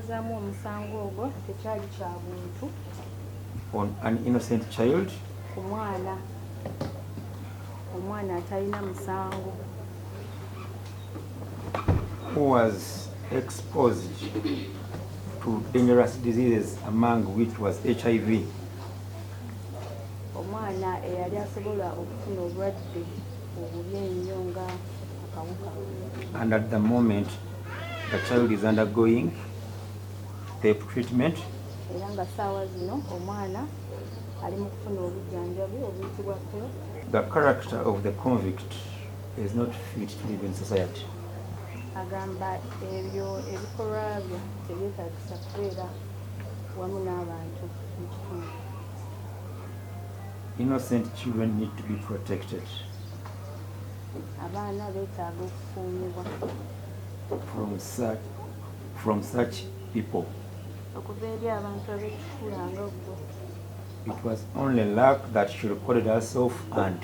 zaamu omusango ogwo tekyali kya buntu on an innocent child ku mwana omwana atalina musango who was exposed to dangerous diseases among which was hiv omwana eyali asobola okufuna obulwadde obubi ennyo nga And at the moment, the child is undergoing PEP treatment. Era nga saawa zino omwana ali mu kufuna obujjanjabi obuyitibwa PEP. The character of the convict is not fit to live in society. Agamba ebyo ebikolwa bye tebyetaagisa kubeera wamu n'abantu mu kitundu. Innocent children need to be protected. abaana betaaga okukuumibwa from such, from such people okuva eri abantu abekikula nga gwo it was only luck that she recorded herself and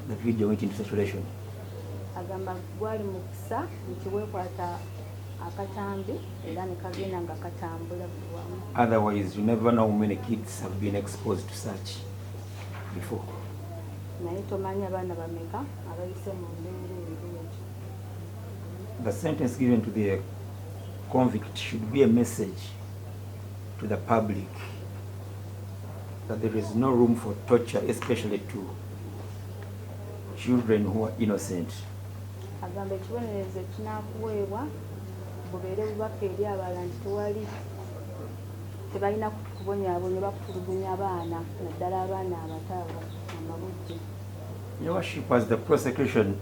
the video went into circulation agamba gwali mukisa nti wekwata akatambi era nekagenda nga katambula otherwise you never know many kids have been exposed to such before naye tomanyi abaana bameka abayise mu mbeera ebireejo the sentence given to the convict should be a message to the public that there is no room for torture especially to children who are innocent agamba ekibonerezo ekinakuweebwa bubeere bubaka eri abalala nti tewali tebalina kubonyabonya oba kutulugunya baana naddala abaana abato abo amabujje. Your worship as the prosecution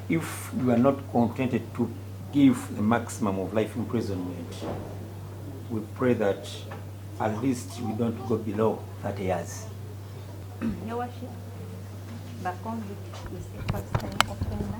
if you are not contented to give the maximum of life imprisonment we pray that at least we don't go below 30 years. Your worship, the convict is a first time offender.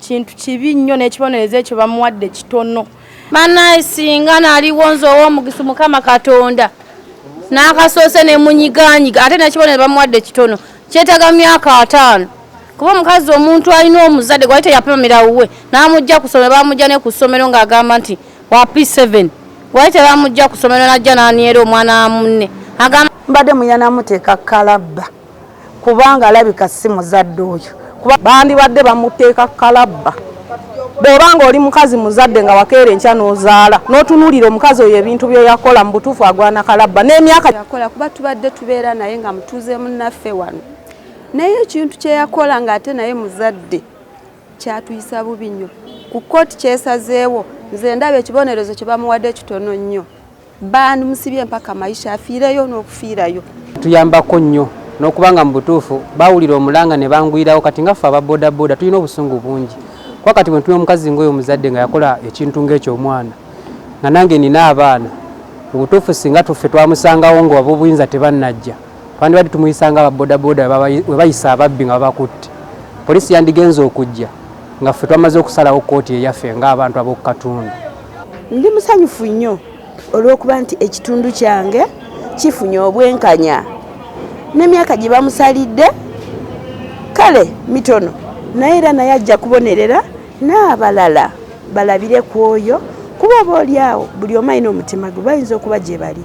kintu kibi nnyo n'ekibonerezo ekyo bamuwadde kitono banaye singa naliwo nze ow'omugisu mukama katonda n'akasoose ne munyiganyiga ate nekibonero bamuwadde kitono kyetaga myaka ataano kuba omukazi omuntu alina omuzadde gwali teyapamira wuwe n'amujja ku ssomero bamujja ne ku ssomero ng'agamba nti wa p7 gwali tebamujja ku ssomero n'ajja n'aniera omwana wa munne agamba mbadde muyanamuteeka kalabba kubanga alabika si muzadde oyo kuba bandibadde bamuteeka kalabba bw'oba ng'oli mukazi muzadde nga wakeera enkya n'ozaala n'otunuulira omukazi oyo ebintu bye yakola mu butuufu agwana kalabba n'emyaka yakola kuba tubadde tubeera naye nga mutuuze munnaffe wano naye ekintu kye yakola ng'ate naye muzadde kyatuyisa bubi nnyo ku kkooti kyesazeewo nze ndaba ekibonerezo kye bamuwadde kitono nnyo Band musibye mpaka maisha afiireyo n'okufiirayo. Tuyambako nnyo n'okubanga mu butuufu baawulira omulanga ne bangwirawo kati nga ffe aba bodaboda tulina obusungu bungi kuba kati bwe ntuna omukazi ng'oyo omuzadde nga yakola ekintu ng'ekyo omwana nga nange nina abaana mu butuufu singa tuffe twamusangawo nga ab'obuyinza tebannajja twandibadde tumuyisa nga ababodaboda we bayisa ababbi nga babakutte poliisi yandigenze okujja nga ffe twamaze okusalawo kkooti eyaffe ng'abantu ab'oku katundu. Ndi musanyufu nnyo olw'okuba nti ekitundu kyange kifunye obwenkanya n'emyaka gye bamusalidde kale mitono naye era naye ajja kubonerera n'abalala balabire ku oyo kuba oba oli awo buli omu alina omutima gwe bayinza okuba gye bali